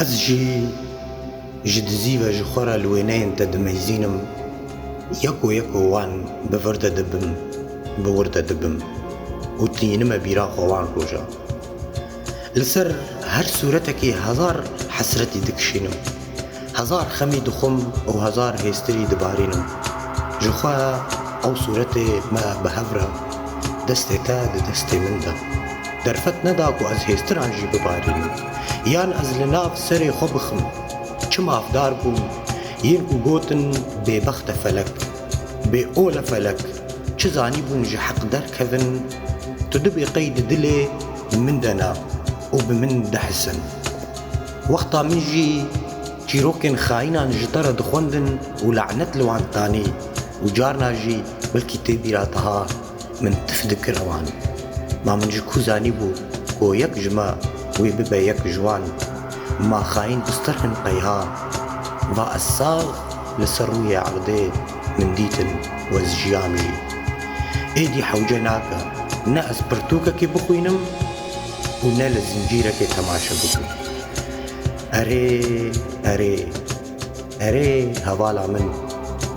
Ez jî ji dizî ve ji xwe re li wêneyên te dimezînim, yeko yeko wan bi vir de dibim, bi wir de dibim û tînime bîra xwe wan roja. Li ser her sûretekî hezar hesretî dikişînim. Hezar xemî dixwim û hezar hêstirî dibarînim. Ji xwe ew sûretê me bi hev re destê te di destê min de. Derfet neda ku ez hêstiran jî bibarînim. Yan ez li nav serê xwe bixim. Çi mafdar bûm. Yên ku gotin bêbext e felek. Bê ol e felek. Çi zanîbûn ji heq derkevin. Tu dibê qey di dilê min de ne û bi min dihisin. Wexta min jî çîrokên xayînan ji te re dixwendin û lanet li wan danî û carna jî belkî tê bîra diha min tif dikir ewan. Ma min ji ku zanîbû ku yek ji me wê bibe yek ji wan, ma xayîn biztir hin qeyha. Va ez sax li ser rûyê erdê min dîtin û ez jiyam jî. Êdî hewce nake ne ez pirtûkekê bixwînim, û ne li zincîrekê temaşe bikir. Erê, erê, erê hevala min,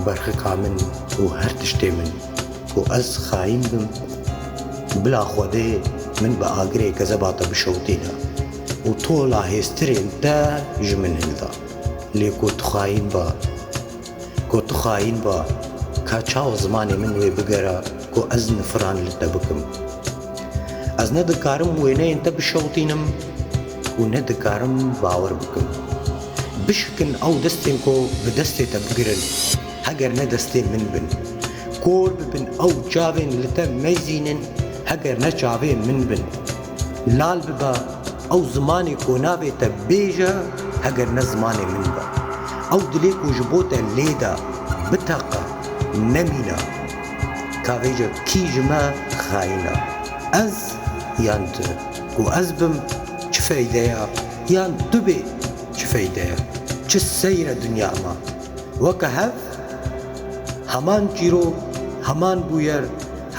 berxika min û her tiştê min, ku ez xayîn bim, bila Xwedê min bi agirê gezeba te bişewitîne û tola hêztirên te ji min hilda. Lê ku tu xayîn be. Ko tu xayîn ba, ka çawa zimanê min wê bigera ku ez nifiran li te bikim? Ez ne dikarim wêneyên te bişewitînim û ne dikarim bawer bikim. Bişikin ew destên ku bi destê te bigirin, heger ne destên min bin. Kor bibin ew çavên li te mezînin, heger ne çavên min bin. Lal bibe. Ew zimanê ko nabê te bêje heger ne zimanê min be. Ew dilê ko ji bo te lêda, biteqe, nemîna. Ka vêje kî ji me xayîna? Ez yan tu? Ku ez bim çi feyde ya? Yan tu bê çi feyde ya? Çi seyr e dinya ma? Weke hev heman çîrok, heman bûyer,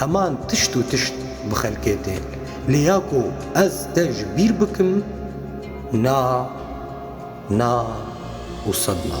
heman tişt û tişt bi xelkê tên. Lê ya ku ez te ji bîr bikim, na, na û sed na.